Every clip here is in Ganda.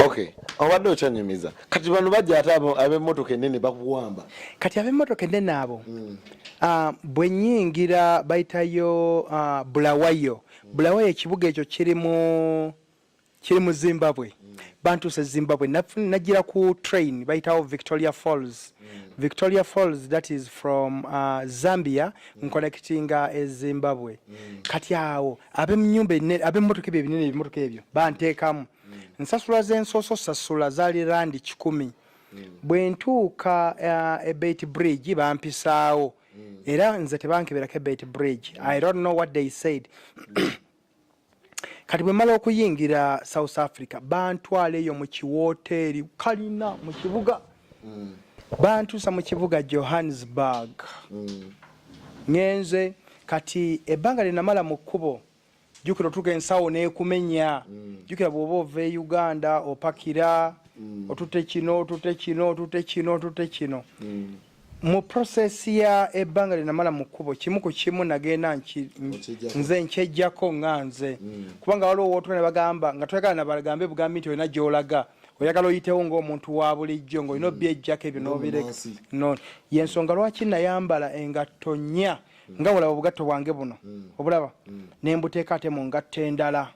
okay obadde okyanyumiza kati bano bajja ate ab'emmotoka ennene bakuwamba kati ab'emmotoka ennene abo mm. uh, bwe nyingira bayitayo uh, bulawayo mm. bulawayo ekibuga ekyo kiri mu kiri mu zimbabwe mm. bantuuse zimbabwe najjira ku train bayitawo victoria falls mm. victoria falls that is from uh, zambia nkonekitinga e zimbabwe mm. kati awo abemunyumba abemotoka ebyo ebinene ebimotoka ebyo banteekamu mm. nsasula zensooso sasula zali randi kikumi mm. bwe ntuuka uh, ebeit bridge bampisaawo era nze tebankeberako ebeit bridge i don't know what they said kati bwe mala okuyingira south africa bantwala eyo mu kiwooteeri kalina mu kibuga mm. bantuusa mu kibuga johannesburg mm. ngenze kati ebbanga lyenamala mu kkubo jukira otuka ensawo nekumenya mm. jukira bwoba ova e uganda opakira mm. otute kino otute kino otute kino otute kino mm. mu process ya ebbanga lyenamala mu kkubo kimu ku kimu nagenda nze nkyejjako nga nze mm. kubanga waliwo wootula ne bagamba nga toyagala nabagambe bugambi nti olina gyolaga oyagala oyitewo ngaomuntu wa bulijjo ngaolina mm. obyejjako ebyo nobireka no yensonga lwaki nayambala engatto nnya mm. nga bulaba obugatto bwange buno obulaba nembuteeka ate mu ngatto endala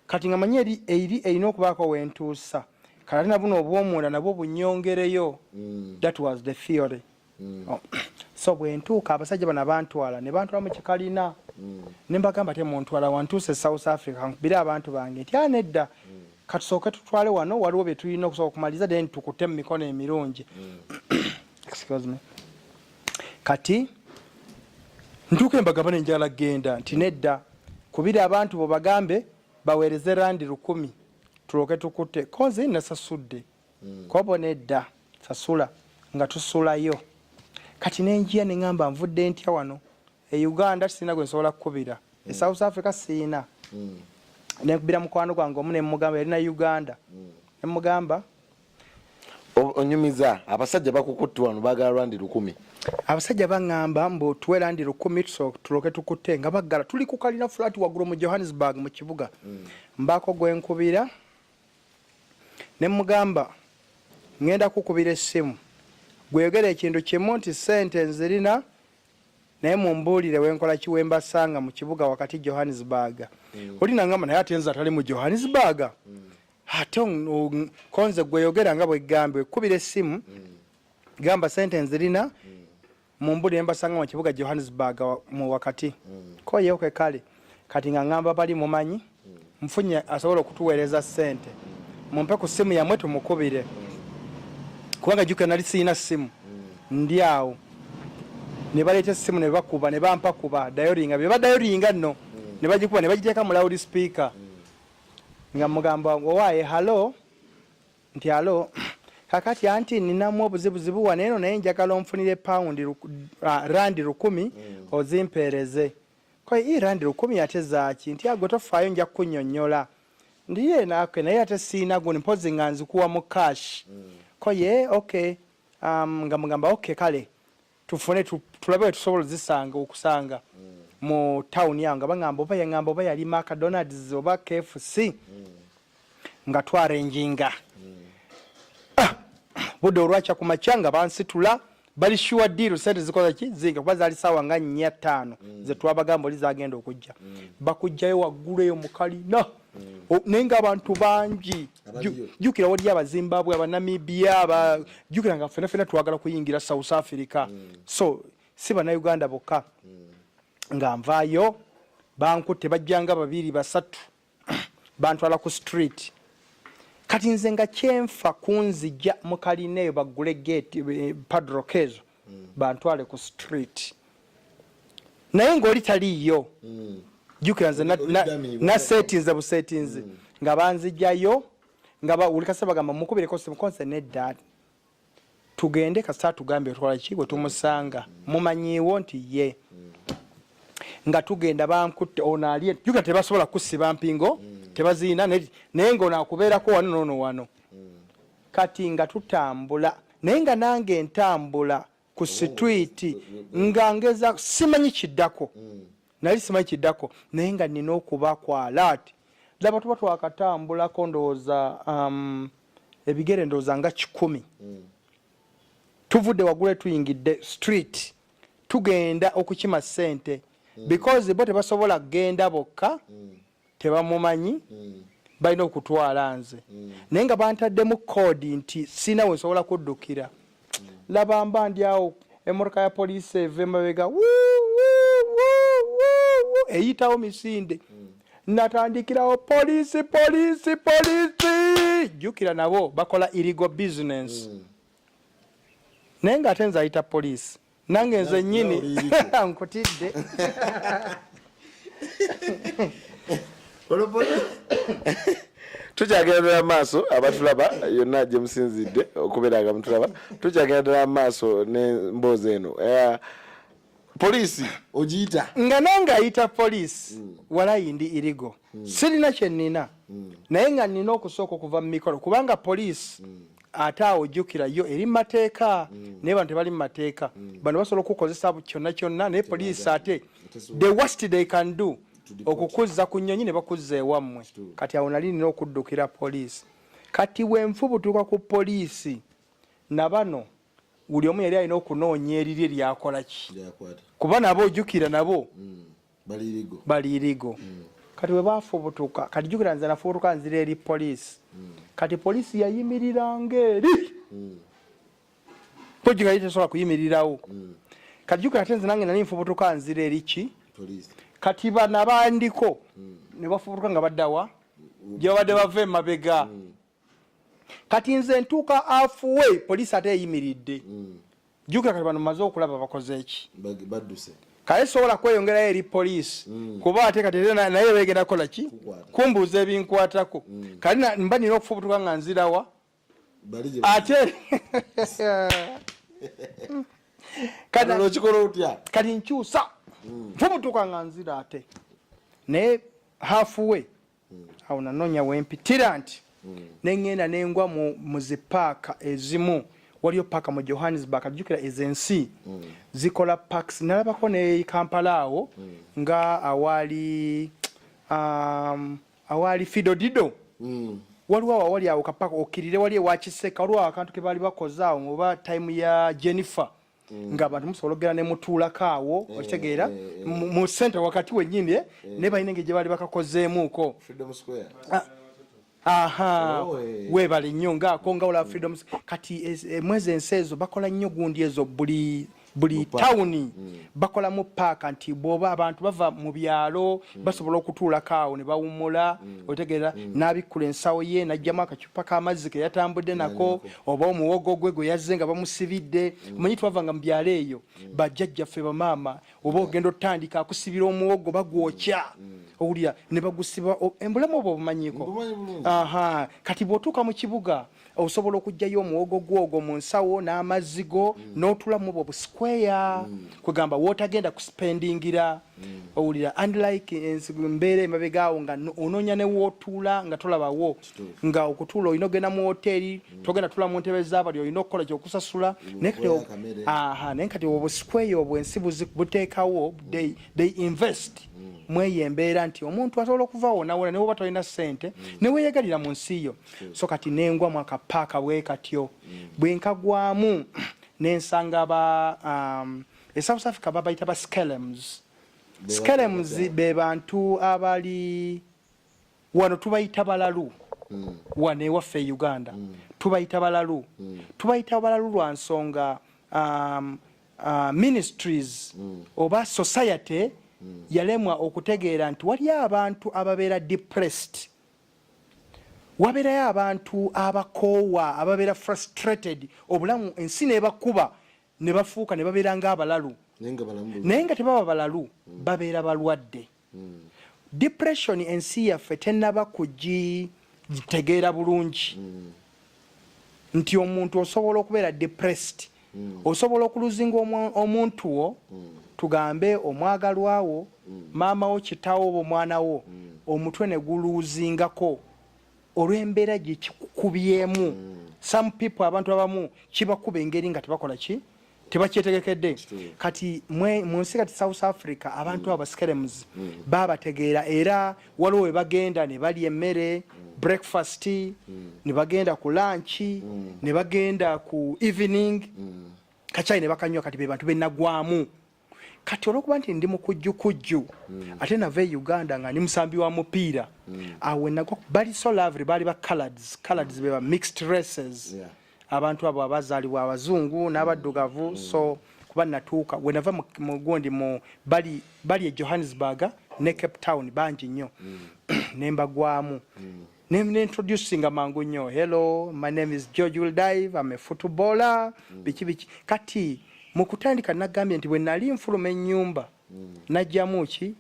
kati nga manyi eri eri erina okubaako wentuusa kati ate nabuno obwomunda nabwo bunyongereyo mm. that was the theory mm. oh. so bwentuuka abasajja bano bantwala ne bantwala mu kikalina mm. ne mbagamba te muntwala wantuuse south africa nkubire abantu bange nti anedda mm. katusooke tutwale wano waliwo bye tulina okusobola okumaliriza then tukute mu mikono emirungi mm. excuse me kati ntuuka embagaba nenjala genda nti nedda kubira abantu bo bagambe baweereze randi lukumi tulooke tukutte kozi nasasudde hmm. kobo nedda sasula nga tusulayo kati nenjiya neŋamba nvudde ntya wano e uganda sirina gwe nsobola kukubira e hmm. south africa sirina hmm. nekubira mukwano gwange omu nemugamba yali na uganda nemugamba onyumiza abasajja bakukutte wano bagala lwandi lukumi abasajja baŋŋamba mbu tuwe landi lukumi tuloke tukutte nga baggala tuli ku kalina fulaati waggulu mu johannesburg mu kibuga hmm. mbaako gwe nkubira ne mugamba ŋŋenda kukubira essimu gweyogera ekintu kimu nti ssente nzirina naye mumbuulire wenkola ki wembasanga mu kibuga wakati johannesburg hmm. oli naŋŋamba naye ate nze atali mu johannesburg hmm. ate konze gweyogera nga bwegambye kubira essimu mm. gamba sente nzirina mm. mumbuli nembasanga mukibuga johannesburg mu wakati mm. koyewke kale kati nga ngamba bali mumanyi mfunye asobola okutuweereza sente mumpe ku simu yamwe tumukubire kubanga juke nali siyina simu ndi awo nebaleeta esimu nebakuba nebampakuba dayoringa bebadayoringa nno nebagikuba nebagiteeka mu loud speaker nga mugamba owaaye halo nti alo kakati anti ninamu obuzibuzibu wa neeno naye njagala onfunire pawundi uh, randi lukumi mm. ozimpeereze koye i randi lukumi ate zaaki nti agwe tofaayo nja kukunyonyola ndi ye naake naye ate siina guni mpozi nga nzikuwa mu cash mm. koye ok um, nga mugamba ok kale tufune tulabe wetusobola zisanga okusanga mu town yange bangamba oba yangamba oba yali macdonalds oba kfc nga twarenjinga ah, budde olwakya ku makya nga bansitula bali shuwa diiru sente zikola ki zinga kuba zali sawa nga nnya ttaano zetwabagamba oli zagenda okujja bakujjayo waggulu eyo mukalina mm. naye nga abantu bangi jukira waliyo abazimbabwe abanamibia aba jukira nga fena fena twagala kuyingira south africa mm. so si banauganda bokka mm. nga nvayo bankutte bajjanga babiri basatu bantwala ku street kati nze nga kyenfa kunzija mukalina eyo baggule gate eh, padrock ezo mm. bantwale ku street naye ngaoli taliiyo mm. jukira nze nasetinze busetinzi mm. nga banzijayo nga bawulikasa bagamba mukubireko simukonse nedda tugende kasita tugambye otwala ki bwe tumusanga mumanyiiwo nti ye nga tugenda bankutte ono ali juga tebasobola kusiba mpingo tebaziina naye ngaono akubeerako wano noono wano kati nga tutambula naye nga nange ntambula ku oh, sitwiti nga ngeza simanyi kiddako mm. nali simanyi kiddako naye nga nina okuba kwalaati laba tuba twakatambulako ndowooza um, ebigere ndowooza nga kikumi mm. tuvudde waggulu etuyingidde street tugenda okukima ssente mm. because bo tebasobola kugenda bokka tebamumanyi mm. balina okutwala nze mm. naye nga bantaddemu koodi nti sina we nsobola kuddukira mm. laba mba ndi awo emotoka ya poliisi eva emabega eyitawo misinde mm. natandikirawo poliisi poliisi poliisi jjukira nabo bakola irigo bizinensi mm. naye nga ate nze ayita poliisi nange nze nyini nkutidde tukyagenda ddala maaso abatulaba yonna gye musinzidde okubeera nga mutulaba tukyagenda ddala maaso n'emboozi eno eh, poliisi ogiyita nga nange ayita poliisi hmm. walayi ndi irigo hmm. sirina kye nnina hmm. naye nga nnina okusooka okuva mu mikolo kubanga poliisi ate awo jukira yo eri mateeka mm. naye bantu tebali mumateeka mm. bano basobola okukozesa kyonna kyonna naye poliisi ate the worst they can do okukuzza ku nyonyi ne bakuzza ewammwe kati awo nali nina okuddukira poliisi kati wenfu butuuka ku poliisi na bano buli omu yali alina okunoonya eriri eryakola ki kuba nabo ojukira nabo mm. baliirigo baliirigo mm. kati bwe bafubutuka kati jukira nze nafubutuka nzira eri poliisi mm. kati poliisi yayimiriranga eri mm. poji nga yitesobola kuyimirirawo mm. kati jukira ate nze nange nali nfubutuka nzira eri ki kati bana bandiko mm. ne bafubutuka nga baddawa mm. gye babadde bava emabega mm. kati nze ntuuka afuwe poliisi ate eyimiridde mm. jukira kati bano maze okulaba bakoze eki badduse kaye sobola kweyongerayo eri poliisi mm. kuba ate kati naye begenda kukola ki kumbuuza ebinkwatako mm. kati mba nina okufubutuka nga nzirawa ate kati nkyusa mm. nfubutuka nga nzira ate naye hafuwe awo nanoonya wempitira nti nengenda nengwa mu zipaaka ezimu waliyo paaka mu johannesburg ajjukira ezensi zikola paks nalabako ne kampala awo nga awaali um, awaali fidodido mm. waliwo awo awali awo kapaka okirire wali ewakiseka waliwo awo akantu kebaali bakoze awo oba time ya jennifer Mm. nga abantu musobola okugera ne mutuulako awo eh, okitegeera eh, eh. mu sente wakati wenyini naye balina engeri gye baali bakakozeemuuko ah, aha oh, weebale nnyo ngaako nga olaba freedom kati mwezi ensi ezo bakola nnyo gundi ezo buli buli tawuni mm. bakolamu paaka nti bwoba abantu bava mu byalo mm. basobola okutuulako awo ne bawummula otegeera n'abikkula ensawo ye n'ajjamu akaki paka amazzi ke yatambudde nako oba omuwogo gwe gwe yazze nga bamusibidde mm. omanyi twavanga mu byalo eyo mm. bajjajjaffe bamaama oba ogenda otandika akusibira omuwogo bagwokya mm. owulira ne bagusiba embulamu oba obumanyiko aha kati bw'otuuka mu kibuga osobola okugyayo omuwogo gwogwo mu nsawo n'amazzi go n'otulamu obwo busikweya kwegamba wotagenda kusipendingira Mm. owulira and like eh, mbeera emabegaawo nga onoonya newootuula nga tolabawo nga okutuula olina ogenda mu woteeri mm. togenda tula mu ntebe zabali olina okukola kyokusasula mm, naye kati obusikweyo obwensi buteekawo they invest mweyo embeera nti omuntu asobola okuva wonawona newoba tolina sente neweyegalira mu nsi yo so kati nengwa mwaka paaka bwekatyo bwenkagwamu nensanga ba um, e south africa babayita ba skelems skelems be bantu abali wano tubayita balalu mm. wano ewaffe e uganda mm. tubayita balalu mm. tubayita balalu lwa nsonga um, uh, ministries mm. oba society mm. yalemwa okutegeera nti waliyo abantu ababeera depressed mm. wabeerayo abantu abakoowa ababeera frustrated obulamu ensi nebakuba ne bafuuka ne babeera ng'abalalu naye nga tebaba balalu hmm. babeera balwadde hmm. depression ensi yaffe tenaba kugitegeera bulungi hmm. nti omuntu osobola okubeera depressed osobola okuluzinga omuntu wo tugambe omwagalwawo maama wo kitawo oba omwana wo omutwe ne guluuzingako olw'embeera gye kikukubyemu mm. some people abantu abamu kibakuba engeri nga tebakola ki tebakyetegekedde kati mu nsi kati south africa abantu mm. abaskerems mm. babategeera era waliwo we bagenda ne balya emmere breakfast ne bagenda ku lanki ne bagenda ku evening kacai ne bakanywa kati be bantu benagwamu kati olwokuba nti ndi mukujjukujju mm. ate nava e uganda nga ndi musambi wa mupiira mm. awo nagwa bali so lovely baali ba colords colords mm. beba mixed races yeah. abantu abo abazaalibwa abazungu n'abaddugavu mm. so kuba natuuka wenava mugundi mu bali bali e johannesburg ne cape town bangi nnyo mm. nembagwamu mm. ne ne introducing amangu nnyo hello my name is George will dive I'm a footballer mm. biki biki kati mu kutandika nagambye nti bwe nali nfuluma ennyumba mm. najjamu ki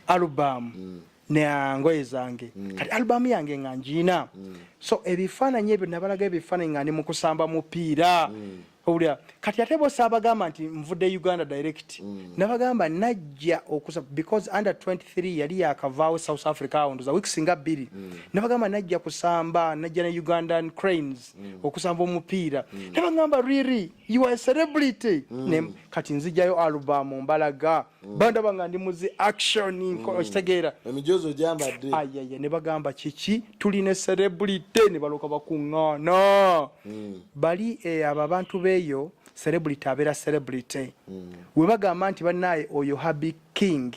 alubamu mm. nengoye zange mm. kati alubamu yange nga njiina mm. so ebifaananyi ebyo nabalaga ebifaananyi nga ndi mu kusamba mupiira mm. owulira kati ate bosi abagamba nti nvudde uganda direct mm. nabagamba najja okusa because under 23 yali yakavaawo south africa awndoza weeks nga bbiri mm. nabagamba najja kusamba najja ne ugandan cranes mm. okusamba omupiira mm. nabagamba riri you are a celebrity mm. ne kati nzijayo album mbalaga Mm. bandaba nga ndi muzi action mm. okitegeera emijoozi ogyambadde ayaya ne bagamba kiki tuli ne celebrity ne baloka bakuŋŋaana mm. bali eh, abo abantu beeyo celebrity abeera celebrity we bagamba nti bannaaye oyo habi king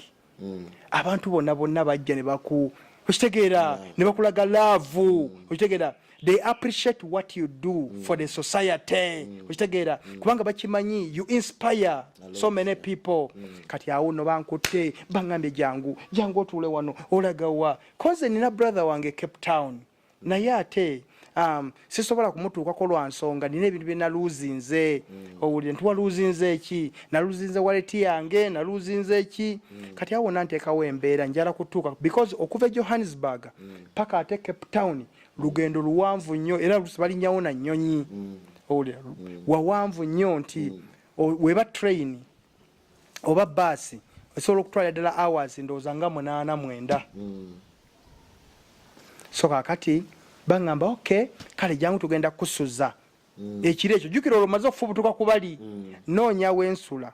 abantu bonna bonna bajja ne baku okitegeera ne bakulaga laavu okitegeera they appreciate what you do mm. for the society mm. okitegeera mm. kubanga bakimanyi you inspire so many people mm. kati awo no bankutte bangambye jangu jangu otuule wano olagawa koze nina brother wange cape town naye ate um, sisobola kumutuukako lwa nsonga nina ebintu bye naluuzinze mm. owulire nti waluuzinze ki naluuzinze waleti yange naluuzinze ki mm. kati awo nanteekawo embeera njala kutuuka because okuva e johannesburg mm. paka ate cape town mm. lugendo luwanvu nnyo era lusi balinnyawo na nnyonyi mm. owulira mm. wawanvu nnyo nti mm. weba train oba baasi esobola okutwala ddala hours ndowooza nga munaana mwenda so kakati baŋamba ok kale jangu tugenda kusuza ekiro ekyo jukira olwo maze okufubutuka kubali noonya wensula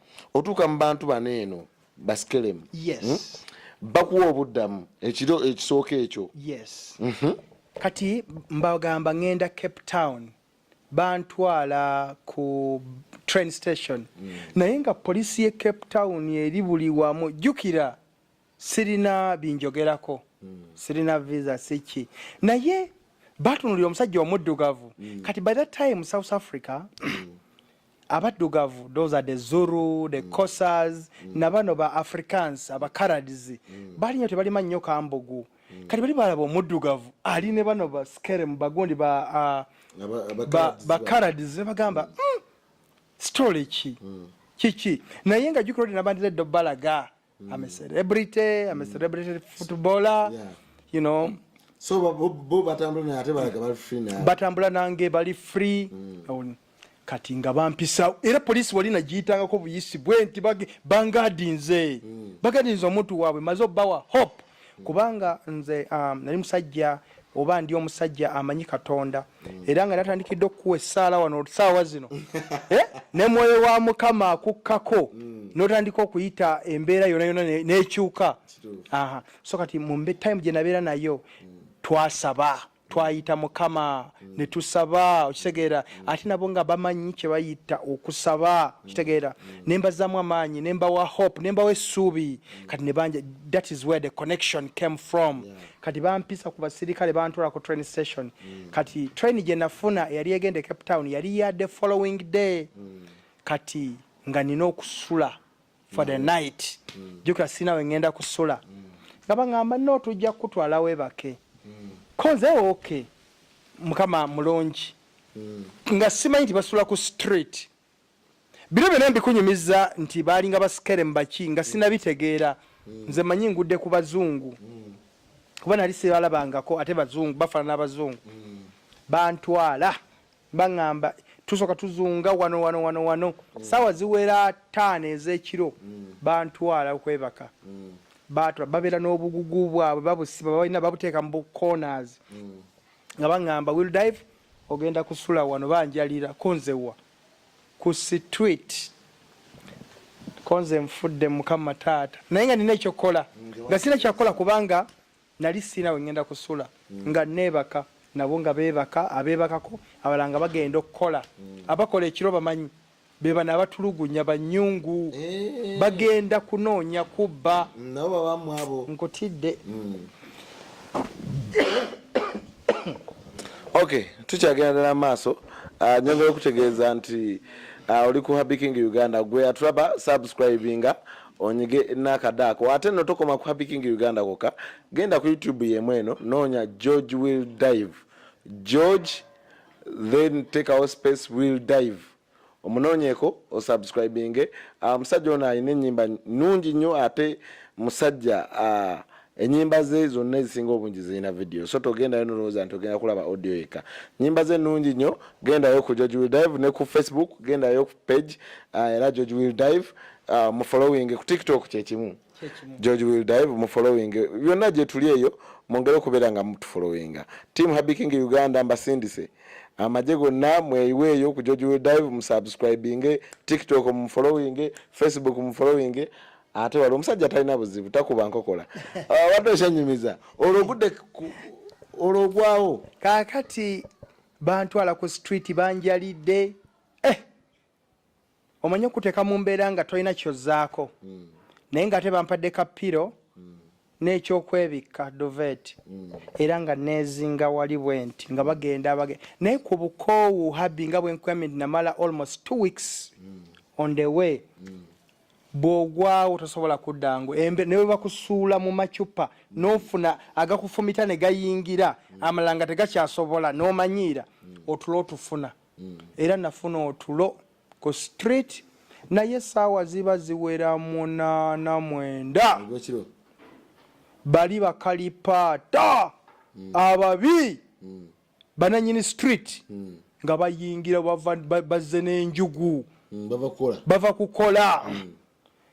otuuka mu bantu bano eno basikelemu yes. hmm? bakuwa obuddamu ekiro ekisooka ekyo yes. mm -hmm. kati mbagamba ngenda cape town bantwala ku train station mm. naye nga polisi ye cape town eri buli wamu jukira sirina binjogerako mm. sirina visa siki naye batunulira omusajja omuddugavu mm. kati by that time south africa mm. abaddugavu those are the zuru the mm. cosas mm. na bano ba africans abacarades mm. bali nyo tebalima nnyo kambugu mm. kati bali balaba omuddugavu ali ne bano ba skerem bagundi ba bacarades uh, bagamba mm. mm, story ki mm. kiki naye nga jukira odi nabandira eddo balaga mm. I'm a celebrity, I'm a mm. celebrity footballer. Yeah. You know. So bo batambula na ate balaga bali free na. Batambula nange bali free. Mm. Kati nga bampisa era police wali na jitanga ko buyisi bwe nti bagi bangadinze. Mm. Bagadinze omuntu wabwe mazo bawa hope. mm. kubanga nze um, nali musajja oba ndi omusajja amanyi katonda mm. era nga natandikidde okukuwa essaala wano saawa zino eh? ne mwoyo wa mukama akukkako mm. notandika okuyita embeera yona yona nekyuka so kati mumbe time gyenabeera nayo twasaba twayita mukama mm. netusaba okitegeera mm. ate nabo nga bamanyi kyebayita okusaba mm. okitegeera nembazamu amaanyi nembawa hope nembawa essuubi kati nebanja that is where the connection came from kati bampisa ku basirikale bantwala ku train station kati train gyenafuna eyali egenda e cape town yali ya the following day kati nga nina okusula for the mm. night mm. jukira sinawe ngenda kusula mm. nga bangamba no tujja kukutwala webake koze ok mukama mulungi nga simanyi nti basula ku street bino byona mbikunyumiza nti balinga basikere mubaki nga sinabitegeera nze manyi ngudde ku bazungu kuba nali sibalabangako ate bazungu bafaanana abazungu bantwala baŋŋamba tusooka tuzunga wano wano wano wano mm. saawa ziwera taano ez'ekiro mm. bantwala okwebaka mm. batula babeera n'obugugu bwabwe babusiba balina babuteeka mu bukonas mm. nga baŋŋamba will dive ogenda kusula wano banjalira kunzewa ku street konze nfudde mukama taata naye nga nina ekyokukola nga sina kyakukola kubanga nali sirina we ŋŋenda kusula mm. nga neebaka nabo nga beebaka abeebakako abala nga bagenda okukola mm. abakola ekiro bamanyi be bano abatulugunya banyungu eh. bagenda kunoonya kubba mm, nabo babamu abo nkutidde ok tukyagenda ddala maaso ah, nyongera okutegeeza nti ah, oli ku habiking uganda gwe atraba subscribinga onyige nakada ako ate no tokoma ku happy king uganda koka genda ku youtube yemu eno nonya george will dive george then take our space will dive omunonyeko osubscribinge ah, omusajja um, ono alina enyimba nungi nnyo ate musajja uh, enyimba ze zonna ezisinga obungi zirina vidiyo so togendayo nolowooza nti ogenda kulaba audio yeka nyimba ze nungi nnyo gendayo ku george will dive ne ku facebook gendayo ku page uh, era george will dive uh, mu following ku tiktok kyekimu george will dive mu following byonna gyetuli eyo mwongere okubeera nga mutufollowinga team happy king uganda mbasindise amagye gonna mweyiweeyo ku george will dive musubscribinge tiktok mufollowinge facebook mufollowinge ate wali omusajja atalina buzibu takuba nkokola uh, wadde okyanyumiza olwo ogudde olwo ogwawo kakati bantwala ku street banjalidde eh omanyi okuteka mu mbeera nga tolina kyozaako mm. naye nga ate bampadde kapiro mm. n'ekyokwebikka dovet mm. era nga neezinga wali bwe nti nga bagenda bage naye ku bukoowu habi nga bwenkwamid namala almost two weeks mm. on the way mm. bwogwawo tosobola kudda ngo embe newe bakusuula mu macupa nofuna agakufumita ne gayingira amalanga tegakyasobola nomanyiira otulo otufuna mm. era nafuna otulo ku street naye saawa ziba ziwera munana mwenda bali bakalipaata mm. ababi mm. bananyini street mm. nga bayingira bazze n'enjugu mm, bava kukola mm.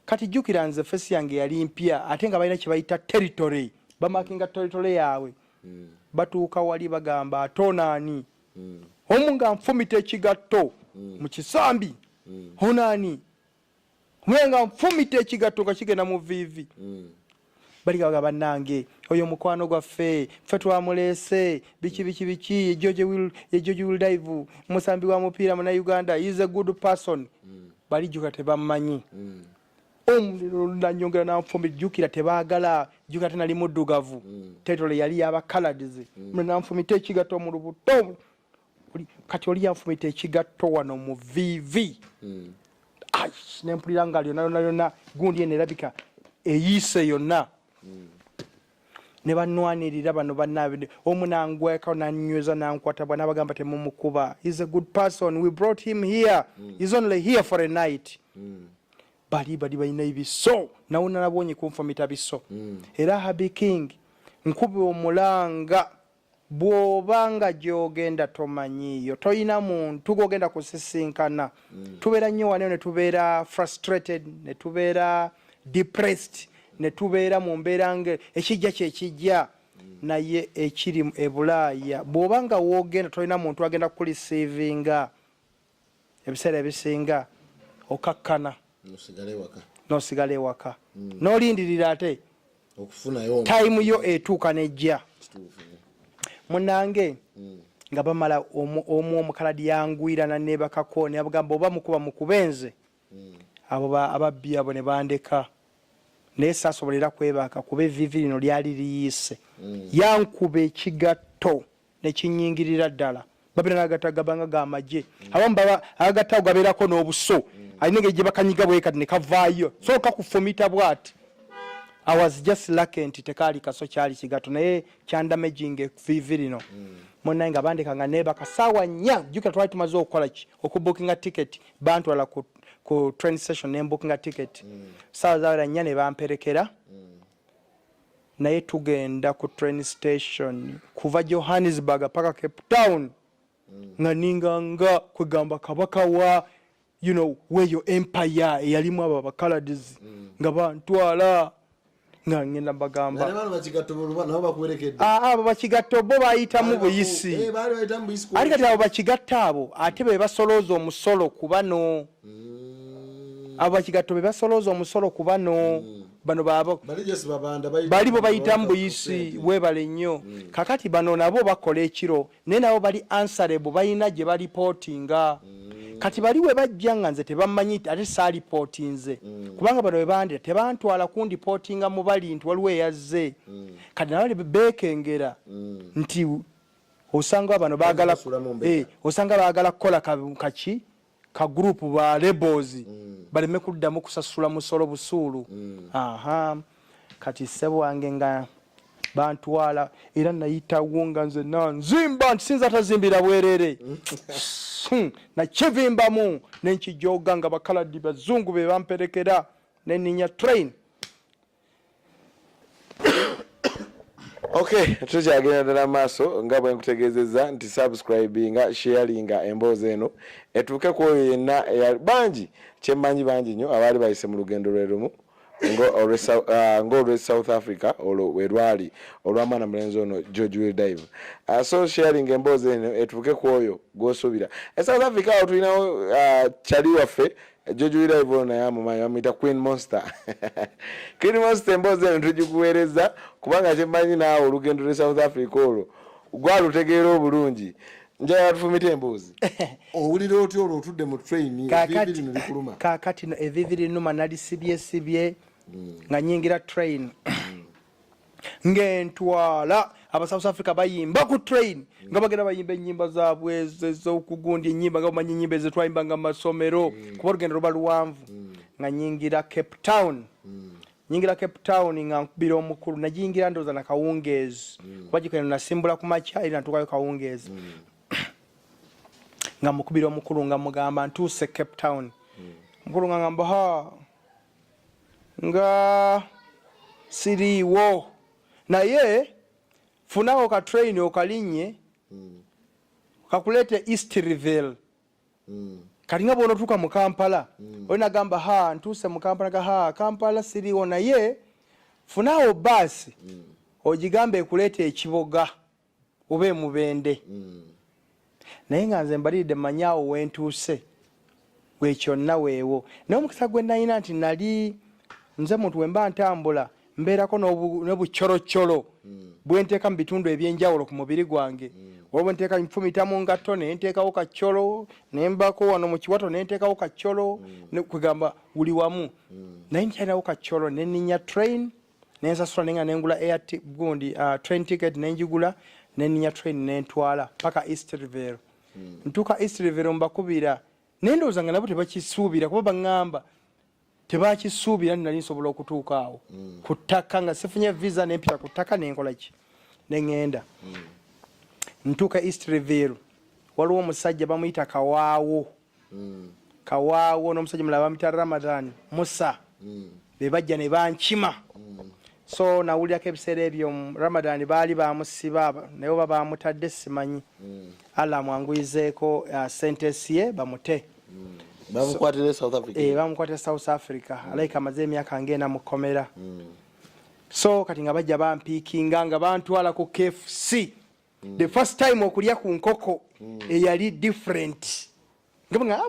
kati jjukira nze fesi yange yali mpya ate nga balina kyebayita territory bamakinga territory yaabwe mm. batuuka wali bagamba atonaani mm. omu nga nfumita ekigatto mm. mu kisambi mm. onani omu nga nfumita ekigatto nga kigenda mu viivi mm. baligaga banange oyo mukwano gwaffe ffe twamuleese biki biki biki george will dive musambi wa mupiira muna uganda is a good person mm. balijuka tebammanyi mm. omuliro lunanyongera nanfumbi jukira tebagala jukira tenali muddugavu mm. tetole yali yabakaladizi mm. mwe nanfumita ekigatto mu lubuto kati oli yanfumita ekigatto wano mu vivi mm. ai nempulira nga lyona lyona lyona gundi eno erabika eyiise yonna ne banwanirira bano banaabide omu nangweka nanyweza nankwata bwa nabagamba temumukuba is a good person we brought him here mm. is only here for a night mm. bali bali balina ebiso nawe nalabonye kunfumita biso mm. era habi king nkuba omulanga bw'oba nga gy'ogenda tomanyiiyo tolina muntu gw'ogenda kusisinkana mm. tubeera nnyo waneyo ne tubeera frustrated ne tubeera depressed ne tubeera mu mbeera nga ekijja kyekijja mm. naye ekiri ebulaaya bw'oba nga woogenda tolina muntu agenda kukulisiivinga ebiseera ebisinga okakkana nosigala ewaka hmm. nolindirira ate tayimu yo etuuka nejja munange hmm. nga bamala omu omukaladi yangwirana nebakako nebagamba oba mukuba mukubenze hmm. abo ababbi abo nebandeka naye sasobola era kwebaaka kuba evivi lino lyali liyise yankuba ekigatto nekinyingirira ddala babera nagata gabanga ga maje mm. abamu baba agata gaberako n'obuso mm. alina engeri gye bakanyiga bwe kati ne kavaayo so kakufumita bwati i was just lucky nti tekaali kaso kyali kigato naye kyandamaging evivi lino mm. munaye nga bandeka nga nebaka saawa nnya jukira twali tumaze okukola ki okubukinga ticket bantwala ku, ku train station nembukinga ticket mm. saawa zawera nnya ne bamperekera mm. naye tugenda ku train station kuva johannesburg paka cape town mm. nga ninga nga kwegamba kabaka wa you know, weyo empire eyalimu abo abakaladizi mm. nga bantwala nga ngenda bagamba abo bakigatta obo bayitamu buyisi eh, ali kati abo bakigatta abo ate bebasolooza omusolo kubano mm. abo bakigatto bebasolooza omusolo kubano mm. bano babo balibo bayitamu buyisi webale nnyo mm. kakati bano nabo bakola ekiro naye nabo bali ansarebo balina gye balipotinga mm. kati bali we bajja nga nze tebamanyi ate saalipotinze mm. kubanga bano webandira tebantwala kundipotinga mu bali nti waliwo eyazze mm. kati nabo bekengera mm. nti osanga bano bagala eh, osanga bagala kukola kaki ka ka group ba labels mm. baleme kuddamu kusasula musolo busuulu mm. aha kati sebo wange nga bantwala era nayitawo nga nze nanzimba nti sinza tazimbira bwerere hmm. nakivimbamu nenkijoga nga bakaladi bazungu bebamperekera neninya train Okay, tukyagenda ddala maaso nga bwe nkutegeezezza nti subscribinga sharinga emboozi eno etuuke ku oyo yenna bangi kyemmanyi bangi nnyo abaali bayise mu lugendo lwe lumu ng'olwe ah, south africa olwo we lwali olw'amaana mulenzi ono george will dive ah, so sharing emboozi eno etuuke ku oyo gw'osuubira e south africa awo tulinawo ah, kyali waffe Jojo Iraibu ono naye amumanyi bamuyita Queen Monster. Queen Monster emboozi eno tugikuweereza kubanga kyemmanyi naawe olugendo lwe South Africa olwo gwalutegeera obulungi njagala tufumite emboozi owulira otya olwo otudde mu train kaakati evivi linuma nalisibyesibye hmm. nga nyingira train hmm. ngentwala aba south africa bayimba ku train nga bagenda bayimba enyimba zabwe ezokugundi enyimba nga bamanya enyimba ezetwayimba nga masomero mm. kuba olugendo luba luwanvu mm. nga nyingira cape town mm. nyingira cape town nga nkubira omukulu najingira ndoza na kawungeezi kuba gikeno nasimbula ku makya eri natukayo kawungeezi nga mukubira omukulu nga mugamba ntuuse cape town mukulu nga ngamba ha nga siriiwo naye funawo ka train okalinye hmm. kakulete eastrville hmm. kalinga bwonotuuka mu kampala hmm. oli nagamba ha ntuuse mu kampala ga ha kampala siriiwo naye funawo baasi ogigambe ekuleeta ekiboga oba emubende mm. naye nga nze mbaliridde manya awo wentuuse wekyonna weewo naye omukisa gwe nalina nti nali nze muntu wemba ntambula mbeerako nobucoloccolo mm. bwenteeka mu bitundu ebyenjawulo ku mubiri gwange mm. oba bwenteeka nfumita mu ngatto nenteekawo kacolo nembako wano mu kiwato nenteekawo kacolo kugamba wuli wamu naye nkyalinawo kacolo neninya train nensasula nenga nengula air gundi uh, train ticket nenjigula neninya train nentwala paka east river mm. ntuka east river mbakubira nendowooza nga nabo tebakisuubira kuba baŋŋamba tebakisuubira nti nali nsobola okutuuka awo mm. ku ttaka nga sifunye visa nempita ku ttaka nenkolaki neŋŋenda mm. ntuuka east revere waliwo omusajja bamuyita kawaawo mm. kawaawo n'omusajja mulala bamita ramadan musa mm. be bajja ne bankima mm. so nawulirako ebiseera ebyo ramadan baali bamusiba naye oba bamutadde simanyi mm. allah amwanguyizeeko uh, sentesi ye bamute mm. bamukwatira south africa eh, bamukwatira south africa mm. alaika amaze emyaka ngaena mu kkomera mm. so kati nga bajja bampiikinga nga bantwala ku kfc mm. the first time okulya ku nkoko mm. eyali different nga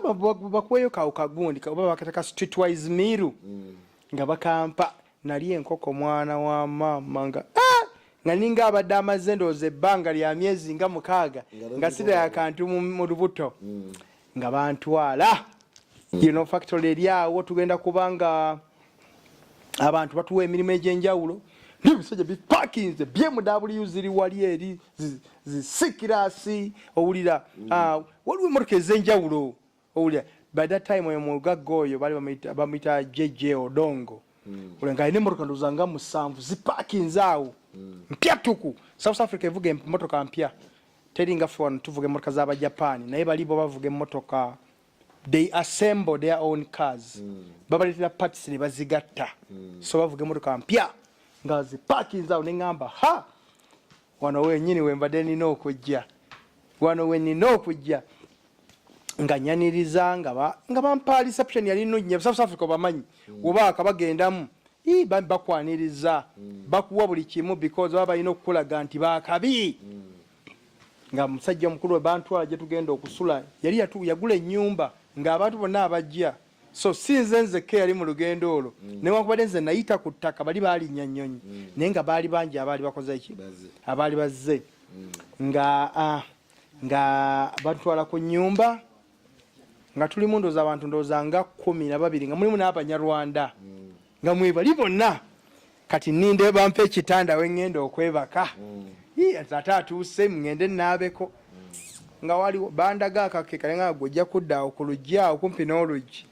bakuweyo kawo kagundi oba bakataka streetwise miru mm. nga bakampa nali enkoko mwana wa maama nga ah! nga ninga abadde amaze ndooza ebbanga lya myezi nga mukaaga nga sida yakantu mu lubuto mm. nga bantwala yino factory eri awo tugenda kubanga abantu batuwa emirimu egyenjawulo nebisajja bipakinze byemudabuliu ziri wali eri zisikirasi owulira mm. ah, waliwo emotoka ezenjawulo owulira by that time oyo mugagga oyo bali bamuyita jj odongo mm. ula nga alina emotoka ndoza nga musanvu zipakinze awo mm. mpya tuku south africa evuga emotoka mpya teri nga ffe wano tuvuga emmotoka za bajapani naye bali bo bavuga emmotoka they assemble their own cars mm. babaleetera parts ne bazigatta mm. so bavuga emmotoka mpya nga zipakinze awo ne ŋŋamba ha wano wenyini wembadde nina okujja wano wenina okujja nga nyaniriza nga ba nga bampa reception yali no nya South Africa bamanyi mm. oba akabagendamu i bambi bakwaniriza mm. bakuwa buli kimu because baba ino kula ganti ba kabi mm. nga musajja mukulu wa bantu aje tugenda okusula yali yatu yagule nyumba nga abantu bonna abajja so sinze nze ke yali mu lugendo olwo mm. ne wakubade nze nayita ku ttaka bali bali nyanyonyi mm. naye nga bali bangi abali bakoze ki abali bazze mm. nga uh, nga batutwala ku nyumba nga tuli mundoza abantu ndoza nga kumi na babiri nga mulimu n'abanyarwanda nga mwebali bonna kati ninde bampa ekitanda wengenda okwebaka mm. ate atuuse mugende naabeko nga waliwo bandaga akakekale nga gwe ojja kudda awo ku luggi awo kumpi n'oluggi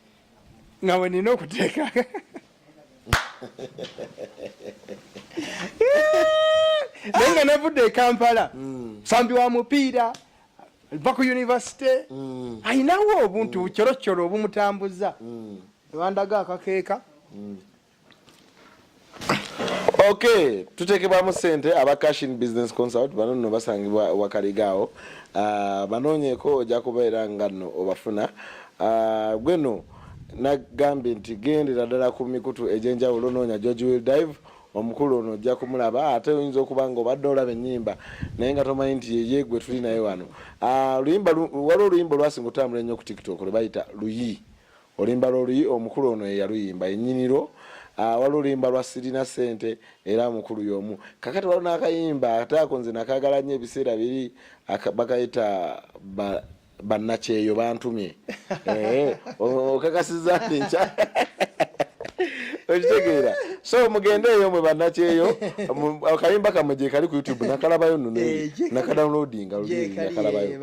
nga we nina okuteeka naye nga navudde e kampala mm. sambi wa mupiira va ku univesite mm. alinawo obuntu mm. coroccoro obumutambuza bandaga akakeeka ok tutekebwamu sente aba cashin business consult bano nno basangibwa wakaligaawo uh, ah, banoonyeko ojja kubeera nga nno obafuna uh, ah, gwe no nagambye nti gendera ddala ku mikutu egyenjawulo noonya george will dive omukulu ono ojja kumulaba ate oyinza okuba nga obadde olaba enyimba naye nga tomanyi nti yeye gwe tuli naye wano ah, waliwo oluyimba olwasinga otambula ennyo ku tiktok lwebayita luyi Olimba lwoluyi omukulu ono yeyaluyimba enyiniro ah, wali olimba lwa sirina sente era mukulu yomu kakati wali nakayimba ate ako nze nakagala nyo ebiseera biri bakayita bannakyeyo bantumye eh, okakasiza nti nkya okitegeera so mugende eyo mwe bannakyeyo akayimba kamwe gyekali ku youtube nakalabayo nno eh, nakadownloadinga luli nakalabayo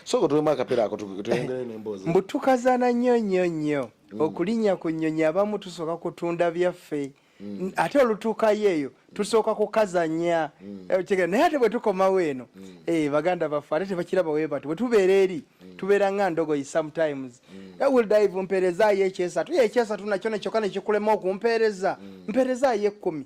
sooka tuwemu akapera ako tuyongere nemboozi mbu tukazana nnyo nnyo nnyo mm. okulinnya ku nnyonyi abamu tusooka kutunda byaffe Mm. ate olutuukayo eyo mm. tusooka kukazanya mm. eh, naye ate bwetukomawo eno eh, baganda baffe ate tebakiraba webati bwetubeera eri tubeera nga ndogoyi sometimes eh, wildive mperezayo ekyesatu yekyesatu nakyo nekyoka nekikulema okumpeereza mperezayo ekkumi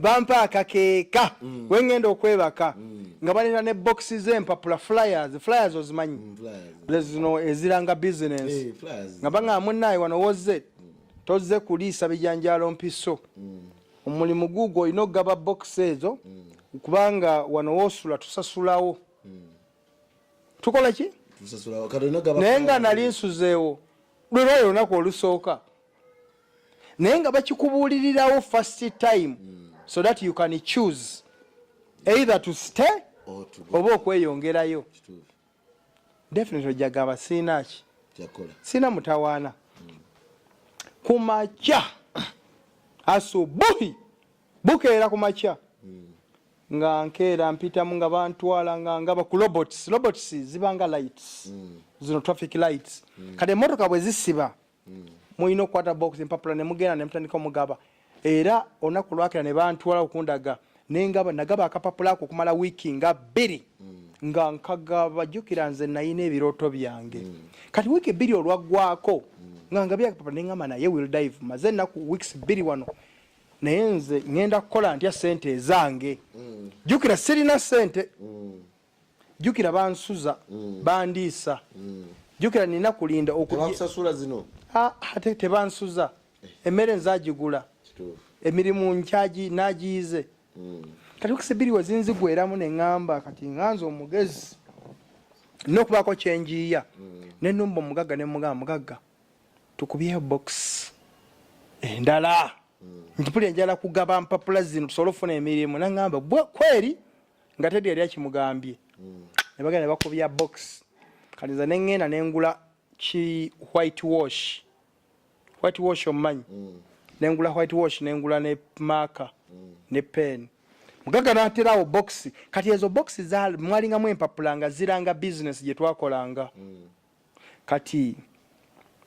bampa akakeeka mm. wengenda okwebaka mm. nga baleta ne boxi zempapula flyers flyers ozimanyi mm, zino eziranga business eh, nga banga munaye wano woze mm. toze kuliisa bijanjalo mpiso mm. omulimu mm. gugo olina okugaba box ezo mm. kubanga wano wosula tusasulawo mm. tukola ki naye nga nali nsuzeewo lwelwayo olunaku olusooka naye nga bakikubuulirirawo first time mm. so that you can choose either to stay oba okweyongerayo definitely ojagamba siinaaki siina mutawaana mm. ku makya asubuhi bukeera ku makya mm. nga nkeera mpitamu nga bantwala nga ngaba ku robots robots zibanga lights mm. zino traffic lights mm. kati emotoka bwe zisiba hmm. mulina okukwata box empapula ne mugenda ne mutandika omugaba era olunaku lwakera ne bantwala okundaga nengaba nagaba akapapula ako okumala wiiki nga bbiri hmm. nga nkagaba jjukira nze nayina ebirooto byange hmm. kati wiiki bbiri olwaggwako nga nga byakapapula nengamba naye will dive maze ennaku weeks bbiri wano naye nze ŋenda kukola ntya sente ezange jukira sirina sente jukira bansuza mm. bandiisa mm. jukira nina kulinda okusasula zino ah, ate tebansuza eh. emmere nzagigula emirimu nkyagi nagiyize mm. kati okisibiri wezinzigweramu neŋamba kati nganza omugezi nokubaako kyenjiiya mm. nenumba omugagga nemugamba mugagga tukubyeyo box endala mm. ntipuli enjala kugaba mpapula zino tusobole okufuna emirimu naŋamba kweri nga tedi yali akimugambye mm. ne bagenda bakubya box kati nze nengenda nengula ki white wash white wash omumanyi mm. nengula white wash nengula ne maka mm. ne pen mugaga naterawo box kati ezo box mwalingamu empapula nga ziranga business gyetwakolanga mm. kati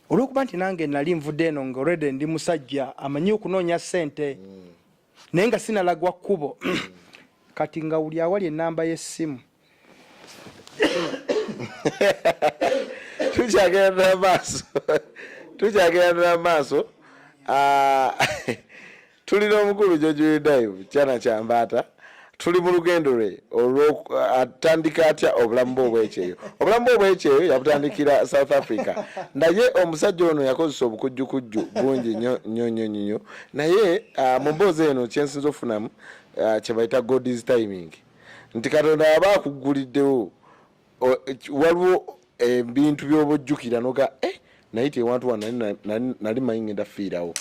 olwokuba nti nange nali nvudde eno nga olredy ndi musajja amanyi okunoonya sente mm. naye nga sinalagwa kkubo mm. kati nga wuli awali enamba yesimu tukyagendera maaso tukyagendera maaso ah, Tuli n'omukulu George Redayivu kyana kya mbaata tuli mu lugendo lwe olwatandika uh, atya obulamu bwe obwekyeyo obulamu bwe obwekyeyo yabutandikira south africa naye omusajja ono yakozesa obukujjukujju bungi nyo nyo nyo nyo naye uh, mu mboozi eno kyensinza okufunamu uh, kyebayita god is timing nti katonda aba akugguliddewo waliwo ebintu eh, byobojjukira noga eh, naye tewantu wa nali manyi ngenda fiirawo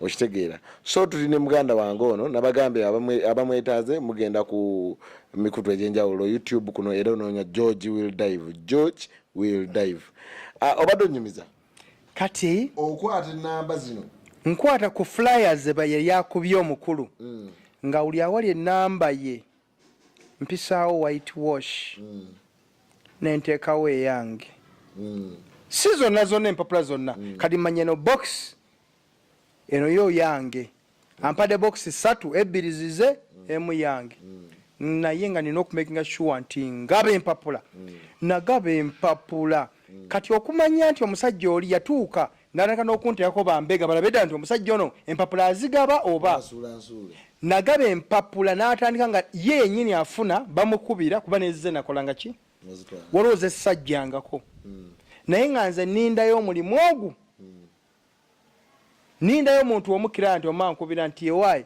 okitegeera so tuli ne muganda wange ono nabagambye abamwetaaze mugenda ku mikutu egyenjawulo youtube kuno era onoonya george will dive george will dive ah, obadde onyumiza kati okwata enamba zino nkwata ku flyers beyeyakubye omukulu mm. nga uli awali enamba ye mpisaawo white wash mm. nenteekawo eyange mm. si zonna zonna empapula zonna mm. kati manya no box eno yo yange mm. ampade box satu ebbiri zize mm. emu yange mm. naye nga nina okumakinga sure nti ngaba empapula mm. nagaba empapula mm. kati okumanya nti omusajja oli yatuuka natandika n'okunteekako bambega balabe ddala nti omusajja ono empapula azigaba oba nagaba empapula n'atandika nga ye yennyini afuna bamukubira kuba nezize nakolanga ki waliwo zessajjangako hmm. naye nga nze nindayo omulimu ogwo hmm. nindayo omuntu omukira nti omankubira nti ewaayi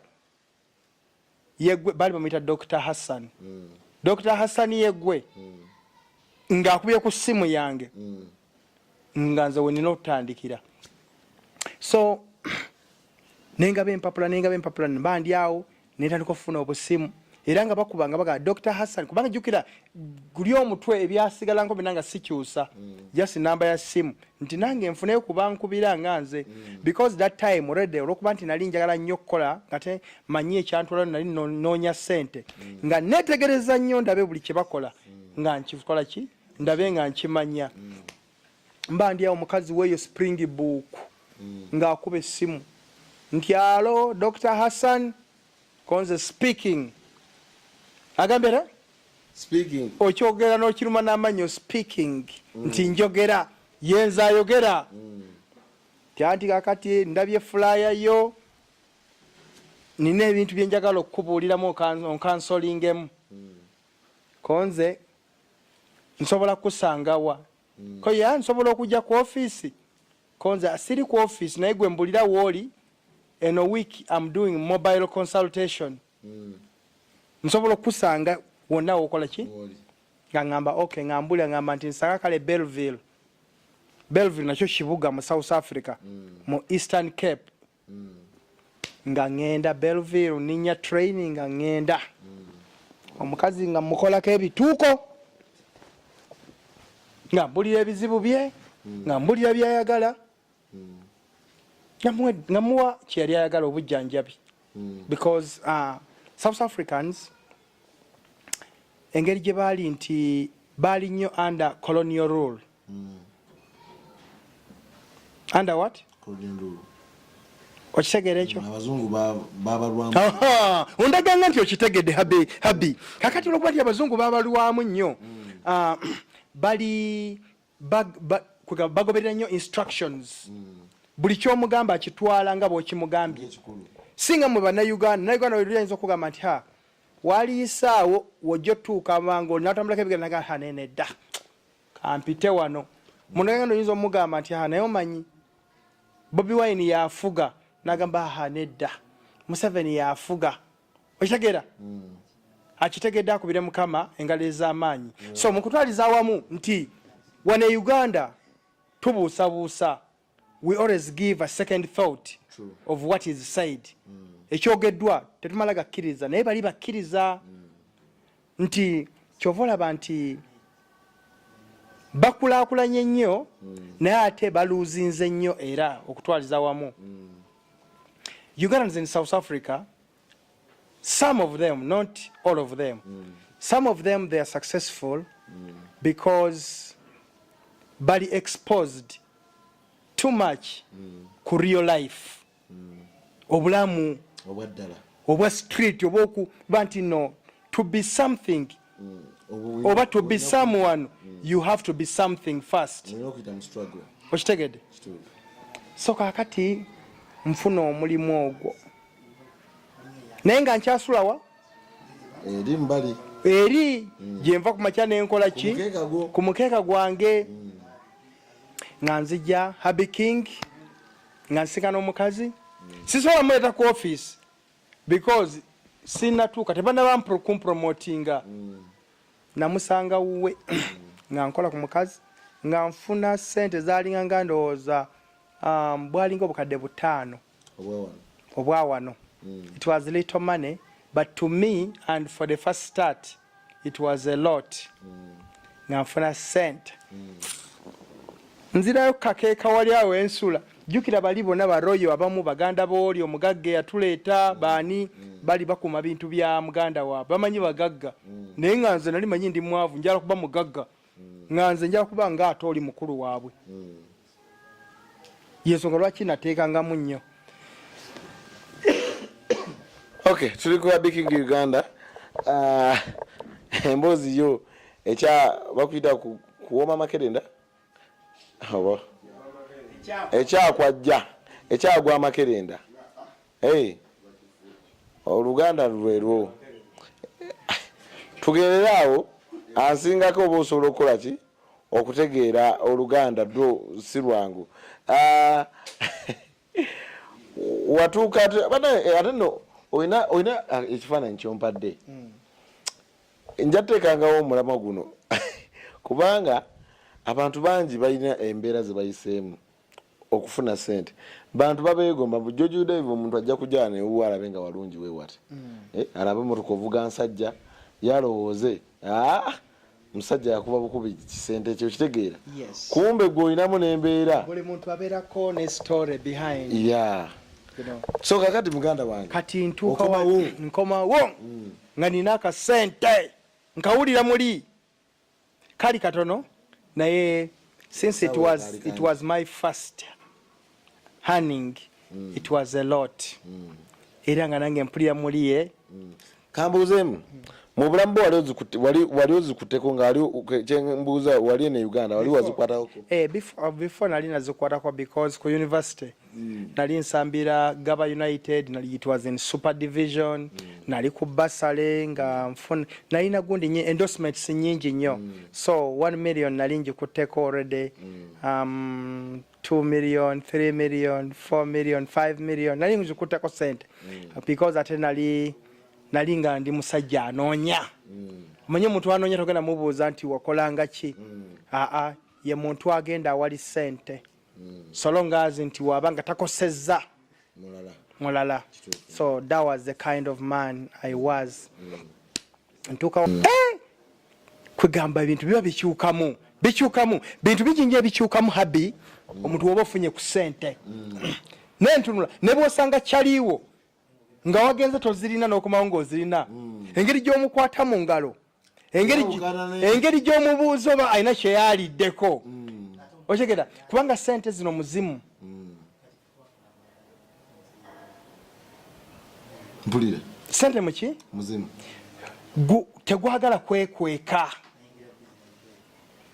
yegwe bali bamuyita dr hassan mm. dr hassan yegwe mm. ngaakubye ku simu yange mm. nga nze wenina okutandikira so nengaba empapula nengaba empapula nbandyawo netandika okufuna obusimu era nga bakuba nga baga dr hassan kubanga jukira guli omutwe ebyasigalanko bina nga sikyusa mm. just namba ya simu mm. nti nange nfune kuba nkubira nga nze mm. because that time already olwokuba nti nali njagala nnyo okukola ngate manyi ekyantwala nali noonya sente mm. nga netegereza nnyo ndabe buli kyebakola mm. nga nkikola ki ndabe nga nkimanya mba ndi awo mukazi weeyo spring book ng'akuba essimu nti alo dr hassan konze speaking agambye era speaking okyogera n'okiruma n'amanyo speaking mm. nti njogera yenza ayogera mm. tyanti kakati ndabye fulaya yo nina ebintu byenjagala okukubuuliramu onkansolingemu mm. konze nsobola kukusangawa mm. koye nsobola okujja ku ofiisi Konze asiri ku office naye gwe mbulira woli eno week I'm doing mobile consultation. Mm. Nsobola kusanga wonna wokola ki? Woli. Nga ngamba okay nga mbulira ngamba nti nsanga kale Belleville. Belleville nakyo kibuga mu South Africa mm. mu Eastern Cape. nga ŋŋenda belville ninya traini nga ŋŋenda omukazi nga mukolako ebituuko nga mbulira ebizibu bye nga mbulira byayagala nga muwa kyeyali ayagala obujjanjabi because uh, south africans engeri gye baali nti baali nnyo under colonial rule mm. under what okitegera ekyo ondaganga nti okitegedde habi habi kakati olwokuba ti abazungu babalwamu nnyo mm. ah, bali bagoberera nnyo instructions mm. buli kyomugamba akitwala nga bwokimugambye singa mwe banauganda nauganda oyinza okugamba nti ha waliyisaawo wojja otuuka mangu natambulako ebigenda naga hanene dda kampite wano munaganda oyinza omugamba nti ha naye omanyi bobi wine yafuga nagamba ha nedda museveni yafuga okitegera mm. akitegedde akubire mukama engalo ez'amaanyi yeah. so mukutwaliza awamu nti wane uganda tubuusabuusa we always give a second thought True. of what is said mm. ekyogeddwa tetumala gakkiriza naye bali bakkiriza mm. nti kyova olaba nti bakulakulanye nnyo mm. naye ate baluuzinze nnyo era okutwaliza wamu mm. ugandans in south africa some of them not all of them mm. some of them they are successful mm. because bali exposed too much mm. ku real life mm. obulamu obwaddala obwa street obwokuba nti no to be something mm. oba to be someone mm. you have to be something first okitegede so kakati nfuna omulimu ogwo naye nga nkyasulawa eri mbali eri mm. gyenva ku makya nenkola ki ku mukeeka gwange mm. nga nzija habi king nga nsinkana omukazi mm. sisobola muleeta ku office because sinatuuka tebanaba kumpromotinga mm. namusanga wuwe mm. nga nkola ku mukazi nga nfuna sente zalinga nga ndowooza um, bwalinga obukadde butaano mm. obwa wano mm. it was little money but to me and for the first start it was a lot mm. nga nfuna sente mm. nzirayo kakeeka wali awo ensula jukira bali bona baroyo abamu baganda booli omugagga eyatuleeta baani bali bakuma bintu bya muganda waabwe bamanyi bagagga naye nga nze nali manyi ndi mwavu njala kuba mugagga nga nze njala kuba nga ate oli mukulu waabwe yensonga lwaki nateekangamu nnyo ok tuli kuba biking uganda ah, emboozi yo ekya bakuyita kuwoma amakerenda oba ekyakwajja ekyagwa amakerenda oluganda lulwelwo tugerere awo ansingako oba osobola okukola ki okutegeera oluganda dwo si lwangu ah, watuuka eh, ate no olina olina ah, ekifaananyi kyompadde hmm. nja teekangawo omulamwa guno kubanga abantu bangi balina embeera zebayiseemu okufuna sente bantu babegomba mbu George Udaiva omuntu ajja kujaa ne uwa alabe nga walungi we wati mm. eh, alabe motoka ovuga nsajja yalowooze ah, musajja yakuba bukubi kisente ekyo kitegeera yes. kumbe gwe olinamu nembeera buli muntu abeerako ne story behind yeah. you know. so kakati muganda wange kati ntuuka nkomawo mm. nga nina akasente nkawulira muli kali katono naye since it was, it was my first hunning mm. it was a lot mm. era nga nange mpulira muliye mm. kambuuzeemu mm. mu bulamu bwe wali ozikuteko ngaalikyembuuza wali ene uganda wali wazikwatako eh, before nali nazikwatako because ku university mm. nali nsambira gaba united nali it was in super division mm. nali ku basale nga nfuna nalina gundi nye endorsement si nyingi nnyo mm. so 1 million nali njikutteko already mm. um, 2 million 3 million 4 million 5 million nali njikutteko sente mm. because ate nali nali nga ndi musajja anoonya mm. manye omuntu anoonya togenda mubuuza nti wakolanga ki mm. aa ye muntu agenda awali sente mm. so long as nti waba nga takosezza mulala mulala so that was the kind of man i was mm. ntuukawo mm. eh! kwegamba ebintu biba bikyukamu bikyukamu bintu bijinja ebikyukamu habi mm. omuntu woba ofunye ku sente mm. nentunula nebwosanga kyaliiwo nga wagenze tozirina nokomawo ngaozirina mm. engeri gyomukwata mu ngalo mm. engeri gyomubuuza oba alina kyeyaliddeko hmm. otegera kubanga sente zino muzimu hmm. mpulire sente muki muzimu tegwagala kwekweka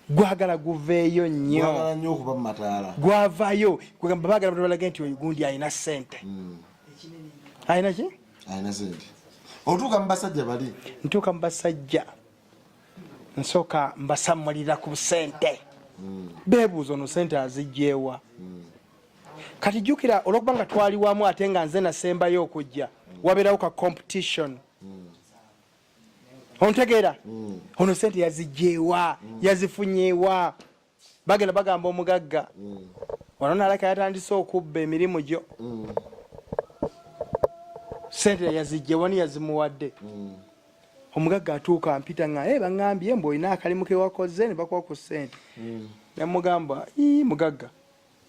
gwagala guveeyo nnyo gwavayo bagala balage nti oyo gundi alina sente hmm. alina ki alina sente otuuka mubasajja bali ntuuka mubasajja nsooka mbasamulira ku sente hmm. bebuuza ono sente azijjeewa hmm. kati jukira olwokuba nga twali wamu ate nga nze nasembayo okujja hmm. wabeerawo ka competition ontegeera ono sente yazijjeewa yazifunyeewa bagenda bagamba omugagga mm. wano nalaka yatandise okubba emirimu gyo mm. sente yazijje wani yazimuwadde mm. omugagga atuuka mpita nga e eh, baŋambye mbu olina akalimu kewakoze ne bakuwa ku sente nemugamba mugagga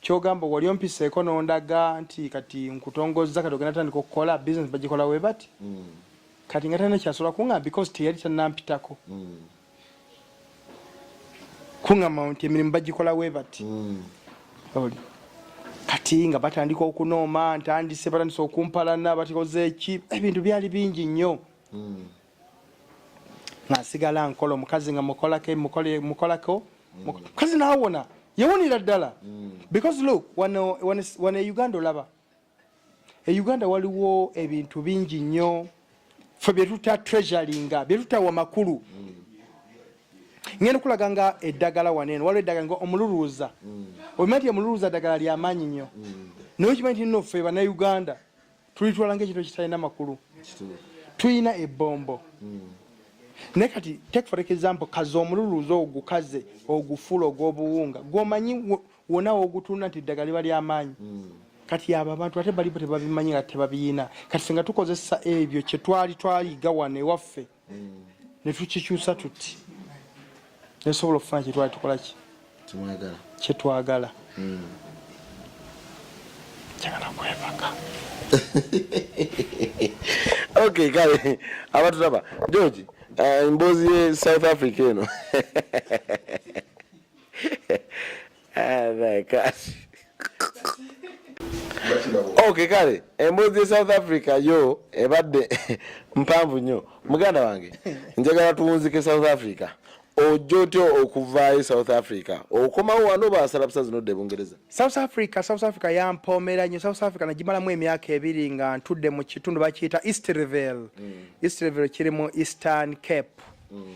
Kyogamba wali ompiseeko nondaga nti kati nkutongozza kati ogenda tandika okukola business bagikola we bati mm. kati nga tana kyasobola kungamba because teyali tanampitako mm. kungamba nti emirimu bagikola we bati mm. oli kati nga batandika okunooma ntandise batandise okumpalana batikoze eki ebintu byali bingi nnyo mm. nga nsigala nkola omukazi nga mukolako mukolako mukazi nawona yawonera ddala mm. because look wano wano e uganda olaba e uganda waliwo ebintu bingi nnyo fe byetuta treasuringa byetutawa makulu mm. ngenda okulaga nga eddagala wano eno waliwo eddagala nga omululuuza mm. obimanyi ti omululuuza ddagala lyamaanyi nnyo naye okimanyi ti nno fe banauganda tulitwala ngaekintu ekitalina makulu tulina ebombo hmm. naye kati take for example kaze omululuuza ogukaze ogufula ogwobuwunga gwomanyi wona wogutunda nti eddagala liba lyamaanyi hmm. kati abo abantu ate balibo tebabimanyi nga tebabiyina kati senga tukozesa ebyo kyetwali twaliga wano ewaffe netukikyusa tuti nesobola okufuna kyetwali tukolaki kyetwagala hmm. kyagala kwebaka ok kale abatulaba george eh, emboozi ye south africa eno Okay, kale emboozi ya South Africa yo ebadde mpanvu nnyo muganda wange njagala tuwunzike South Africa ojja otya okuvaayo south africa okomawo wano basalabusa zino dde bungereza south africa south africa yampoomera nyo south africa nagimalamu emyaka ebiri nga ntudde mu kitundu bakiyita eastrevel mm. eastrevel kiri mu eastern cape mm.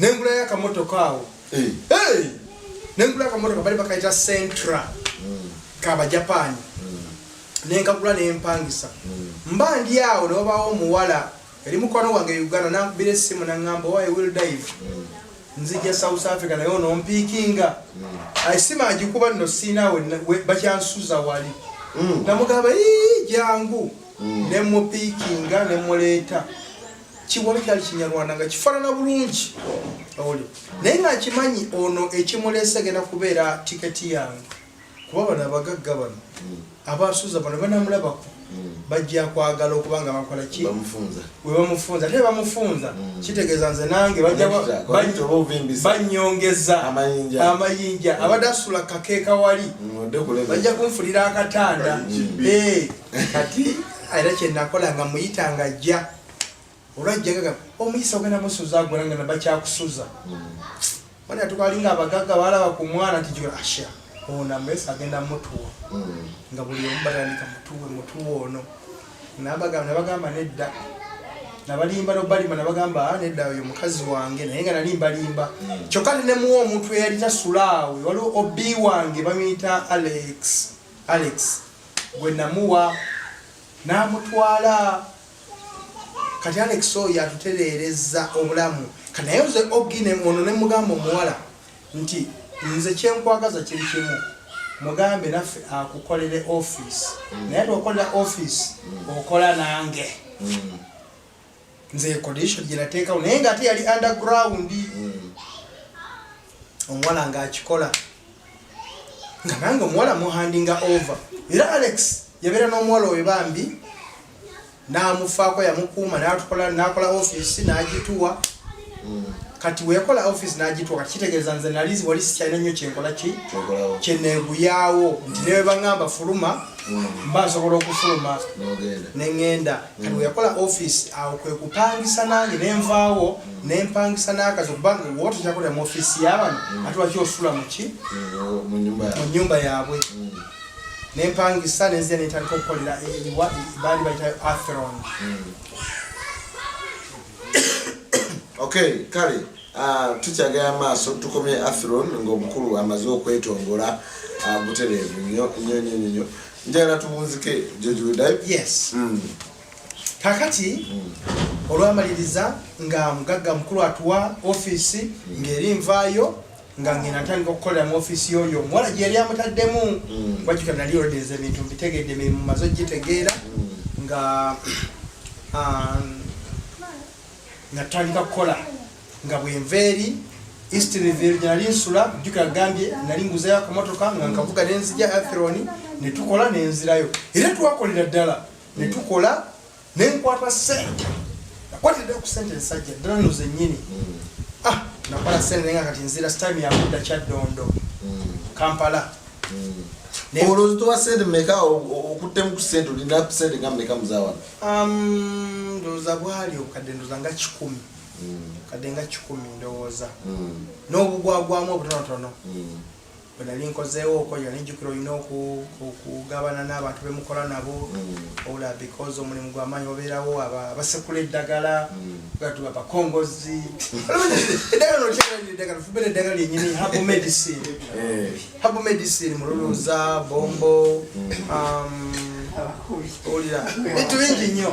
nengulayo akamotoka awo nengulayo akamotoka bali bakaita centra mm. kabajapani mm. nenkagula nempangisa mm. mba ndi awo newabawo omuwala eri mukwano wange uganda nankubira esimu nangamba owaye will dive nzija south africa naye ono mpikinga esimu agikuba nno siina bakyansuza wali namugamba jangu nemupikinga nemuleeta kiwala kyali kinyarwanda nga kifaanana bulungi oli naye nga akimanyi ono ekimuleese genda kubeera tiketi yange kuba bano abagagga bano abasuuza bano banamulabako bajja kwagala okubanga bakola ki webamufunza ate bamufunza mm. kitegeeza nze nange banyongeza amayinja mm. abadde asula kakeeka wali mm, bajja kunfulira akatanda kati era kyenakola nga muyita nga ajja olwajjaga omuyisa ogenda musuza agona nga nabakyakusuza mwana hmm. tukalinga abagagga balaba ku mwana nti asha ona mesa agenda mutuwa hmm. nga buli omu batandika mutuwe mutuwe ono nabagamba nabagamba nedda nabalimba nobalima nabagamba ah, nedda oyo mukazi wange naye nga nalimbalimba hmm. kyokka nenemuwa omuntu eyalina sulaawe waliwo obi wange bamuyita alex Alex gwe namuwa n'amutwala kati Alex oyo atutereereza obulamu kati naye nze ogine ono ne mugamba omuwala nti nze kyenkwagaza kiri kimu mugambe naffe akukolere office mm. naye twokolera office mm. okola nange mm. nze condition gye nateekawo naye nga ate yali underground hmm. omuwala ng'akikola nga nange omuwala muhandinga over era alex yabeera n'omuwala oyo bambi n'amufaako yamukuuma n'atukola n'akola ofiisi n'agituwa kati wekola office nagitwa kati kitegeeza nze nali wali sikyalina nnyo kyenkola ki kyeneeguyaawo nti newe baŋŋamba fuluma mm. mba nsobola okufuluma ne ŋŋenda kati mm. weyakola office awo kwe kupangisa nange ne nvaawo mm. ne mpangisa n'akazi okuba nga woba tokyakolera mu office y'abano ate waki osula muki mu nnyumba yaabwe ne mpangisa ne nzija ne ntandika okukolera baali bayitayo atheron okay kale ah, tukyagala maaso tukomye athron ngaomukulu amaze okwetongola ah, butereevu nyo nyo nyo nyo njagala tubunzike jojudayo yes mm. kakati mm. olwamaliriza nga mugagga mukulu atuwa ofiisi mm. ng'eri nvaayo nga ngenda ntandika okukolera mu ofiisi yoyo omuwala gye yali amutaddemu mm. wajjuka nali orodinza ebintu mbitegedde emirimu maze ogitegeera mm. nga um, natandika kukola nga bwenva eri eastrevil gye nali nsula jjuka agambye nali nguzeyo akamotoka nga nkavuga nenzija atheroni netukola nenzirayo era twakolera ddala netukola ne nkwata ssente nakwatidde ku ssente ensajja ddala no zennyini mm. ah, nakwata ssente naye nga kati nzira sitime yakudda kyaddondo mm. kampala mm. olowooza towa ssente meka okuttemu ku ssente olina ku ssente nga meka muzawana um, ndowooza bwali okadde ndowooza nga kikumi kadde nga kikumi ndowooza n'obugwagwamu obutonotono bwe nali nkozeewooko yali njjukira olina okugabana n'abantu be mukola nabo mm. ola because omulimu gwamaanyi wabeerawo abasekula eddagala gatu mm. abakongozi eddagala nolyeddagala fubera eddagala lyenyini habo medicine eh. habo medicine mululuuza mm. bombo um, owulira bintu bingi nnyo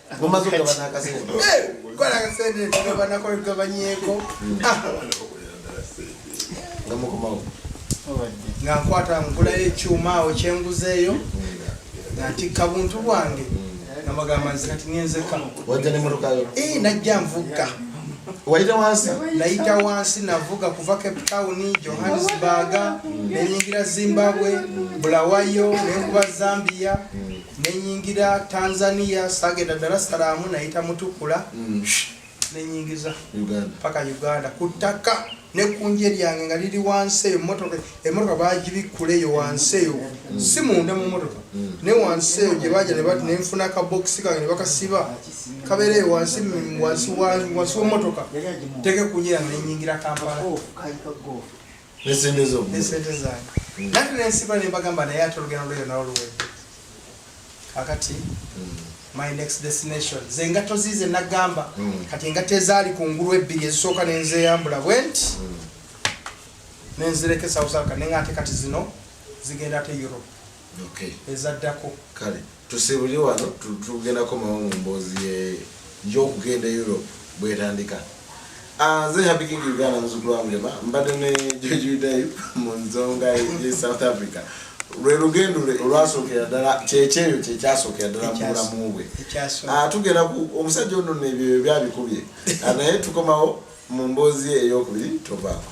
mumaze okugabana akasente kola akasente tugabana kola tugabanyeeko nga mukomawo nga nkwata nkulayo ekyuma awo kyenguzeeyo nga ntikka buntu bwange nga bagamba nze kati ngenzeka wajja ne murukayo ee eh, najja nvugga wayita wansi nayita wansi navuga kuva cape town johannesburg nenyingira zimbabwe bulawayo nenkuba zambia nenyingira Tanzania sagenda Dar es Salaam nayita mutukula mm. nenyingiza paka Uganda ku ttaka ne kunje lyange nga liri wansi eyo motoka emotoka bagibikkula eyo wansi eyo mm. si munda mu motoka mm. ne wansi eyo gye baja ne nfuna kabokisi kange ne bakasiba kabeera eyo wansi wansi wa motoka teke kunye yange nenyingira Kampala oh, nesente zo nesente zange mm. nati nensiba nembagamba naye ate olugendo lweyo nawo luwedde kakati mm. my next destination ze engatto ziize nagamba mm. kati engatto ezaali ku ngulu ebbiri ezisooka nenzeyambula bwenti nenzireka esausalka nenga ate kati zino zigenda ate europe ezaddako Tusibuli wano tugenda komawo mu mboozi ye y'okugenda e Europe bwetandika. Ah, nze Happy King Uganda muzukulu wa Mulema mbadde ne George Yudayu mu nzonga ye South Africa. lwe lugendo lwe olwasookera ddala kyekyeyo kyekyasookera ddala mu bulamu bwe ah, tugenda ku omusajja ono nebyo byabikubye ah, naye tukomawo mu mboozi ye eyokubiri tovaako